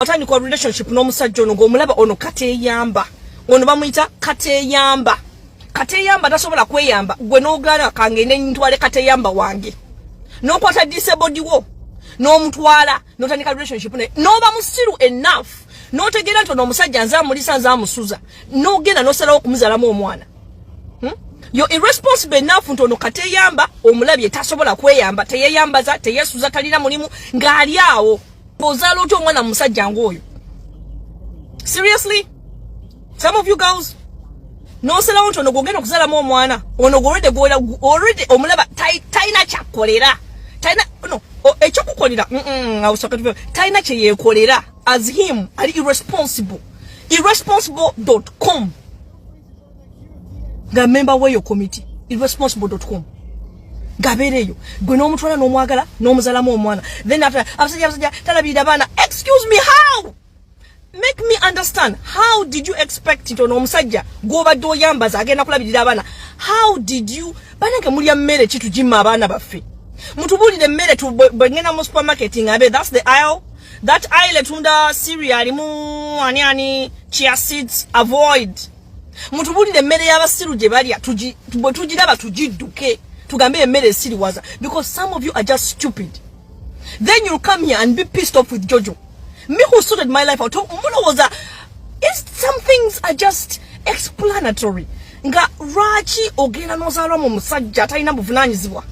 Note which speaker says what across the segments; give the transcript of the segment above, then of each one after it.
Speaker 1: watandika relationship n'omusajja ono ng'omulaba ono kateyamba ono bamuyita kateyamba kateyamba tasobola kweyamba gwe n'ogaana kangende ntwale kateyamba wange n'okwata disabod wo n'omutwala n'otandika relationship naye n'oba musiru enough n'otegeera nti ono omusajja nze amulisa nze amusuza n'ogenda n'osalawo okumuzalamu omwana hmm? yo irresponsible enough nti ono kateyamba omulabye tasobola kweyamba teyeyambaza teyesuza talina mulimu ng'ali awo ozaala otya omwana musajja ngaoyo seriously some of you girls nosalawo nti ono gwogenda okuzalamu omwana ono gwolwedde gwola olwedde omulaba talina kyakolera talina no ekyokukolera talina kyeyekolera as him ali irresponsible irresponsible com nga memba weyo committee irresponsible.com gabereyo gwe n'omutwala n'omwagala n'omuzalamu omwana then after abasajja abasajja talabirira abaana excuse me how make me understand how did you expect it ono omusajja gwobadde oyambaza agenda kulabirira abaana how did you banange mulya mmere kitujima abaana baffe mutubulire mmere bwengenda mu supermarket ngabe thats the aisle That aile tunda Syria alimu ani ani chia seeds avoid. Mutubulire emmere y'abasiru gye balya tuji bwe tugiraba tugidduke tugambe emmere esiriwaza because some of you are just stupid. Then you'll come here and be pissed off with Jojo. Me who sorted my life out. Mulowooza is some things are just explanatory. Nga lwaki ogenda n'ozaalwa mu musajja atalina buvunaanyizibwa?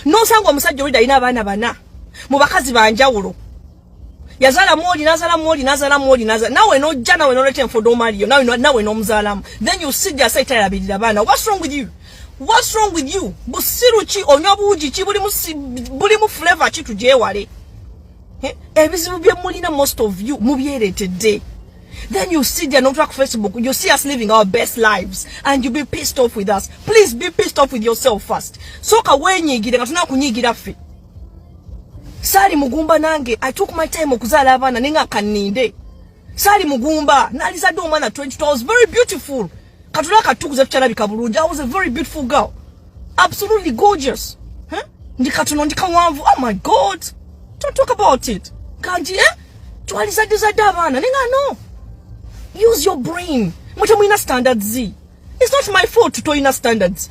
Speaker 1: nosanga omusajja oli dalina abaana bana mu bakazi banjawulo yazala mwoli nazala mwoli nazala mwoli nazala nawe nojja nawe noleta enfodo omaliyo nawe nawe nomuzalamu then you sit there say tayabirira abaana what's wrong with you what's wrong with you busiru ki onywa buugi ki buli musi buli mu flavor ki tujewale ebizibu byemulina most of you mubyeretedde Then you sit there not track Facebook. You see us living our best lives and you be pissed off with us. Please be pissed off with yourself first. Soka wenyigira katuna kunyigira ffe. Sali mugumba nange I took my time okuzala abana ninga kaninde. Sali mugumba nalizadde omwana 20 was very beautiful. Katula akatukuza tukyalabika bulungi. I was a very beautiful girl. Absolutely gorgeous. Huh? Ndi katono ndi kawanvu. Oh my god. Don't talk about it. Kanji eh? Twali za diza davana. Ninga no. Use your brain. Mwacha mwina standards zi. It's not my fault to toina standards.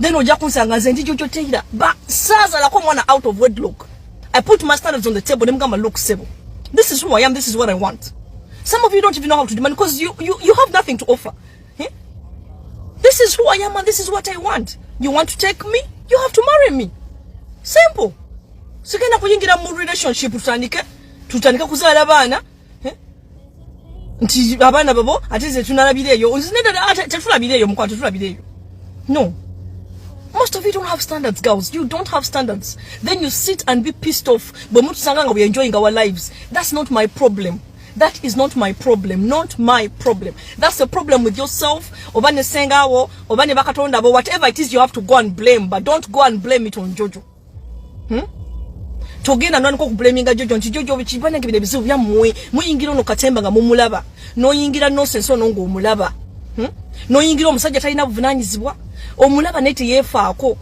Speaker 1: then ojja kunsanga nze ndi jojo teira ba saazalako mwana out of wedlock i put my standards on the table ne mugamba look sebo this is who i am this is what i want some of you don't even know how to demand because you, you, you have nothing to offer eh? this is who i am and this is what i want you want to take me you have to marry me simple sigenda kuyingira mu relationship tutandike tutandike kuzaala baana nti abaana babo ate ze tunalabira eyo tetulabira eyo mukwano tetulabira eyo no most of you don't have standards girls you don't have standards then you sit and be pissed off bwe mutusanga nga we enjoying our lives that's not my problem that is not my problem not my problem that's a problem with yourself oba ne sengawo oba ne bakatonda bo whatever it is you have to go and blame but don't go and blame it on jojo Hmm? togenda nwanika okubulaminga jojo nti jojo kibanange bino ebizibu byammwe muyingira ono katemba nga mumulaba noyingira nosensi ono ngaomulaba hmm? noyingira omusajja talina buvunanyizibwa omulaba naye teyefaako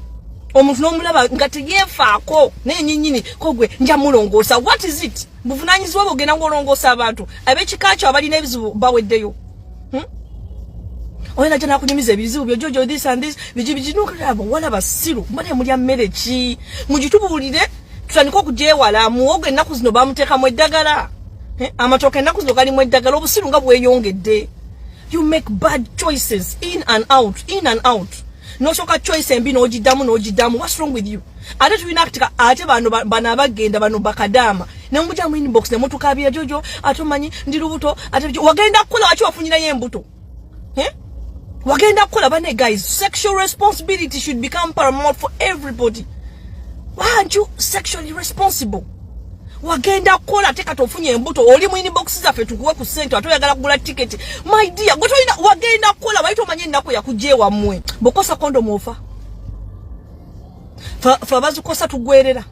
Speaker 1: omuntu nomulaba nga teyefaako naye nyinyini kogwe nja mulongoosa what is it buvunanyizibwa bwogenda ngaolongoosa abantu abekika kyo abalina ebizibu baweddeyo hmm? oyo najja nakunyumiza ebizibu byo jojo this and this biki biki nokulaba wala basiru mbona emulya mmere ki mugitubuulire tutandike okugyewala muwogo ennaku zino bamuteekamu eddagala eh, amatooka ennaku zino galimu eddagala obusiru nga bweyongedde you make bad choices in and out in and out nosooka choice embi n'ogiddamu n'ogiddamu what's wrong with you ate tulina ktika ate bano bano abagenda bano bakadaama nemuja mu inbox nemutukabira jojo ate omanyi ndi lubuto ate wagenda kukola waki wafunyirayo embuto eh? wagenda kukola bane guys sexual responsibility should become paramount for everybody why aren't you sexually responsible wagenda kukola ate kati ofunye embuto oli mu inbox zaffe tukuwe ku sente ate oyagala kugula tiketi my dear gwe tolina wagenda kukola wali tomanye ennaku yakugyewammwe bokosa kondomu ofa fa bazikosa tugwerera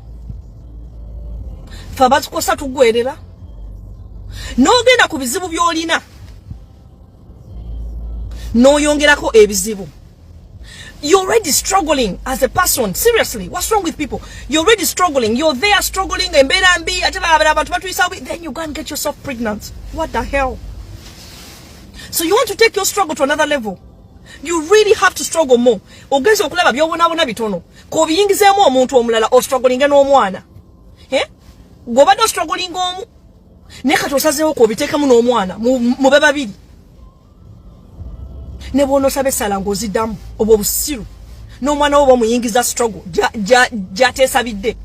Speaker 1: fa bazikosa tugwerera n'ogenda ku bizibu by'olina n'oyongerako ebizibu you're already struggling as a person seriously what's wrong with people you're already struggling you're there struggling embeera mbi ate balabala abantu batuyisa bubi then you go and get yourself pregnant what the hell so you want to take your struggle to another level you really have to struggle more ogenze okulaba byobonabona bitono kobiyingizeemu omuntu omulala ostrugglinge n'omwana gwobadde ostrugglinga omu naye kati osazeewo kobiteekemu n'omwana mube babiri ne bwonosaba essala ngaoziddamu obwo obusiru n'omwana wo bamuyingiza struggle gyateesabidde ja, ja,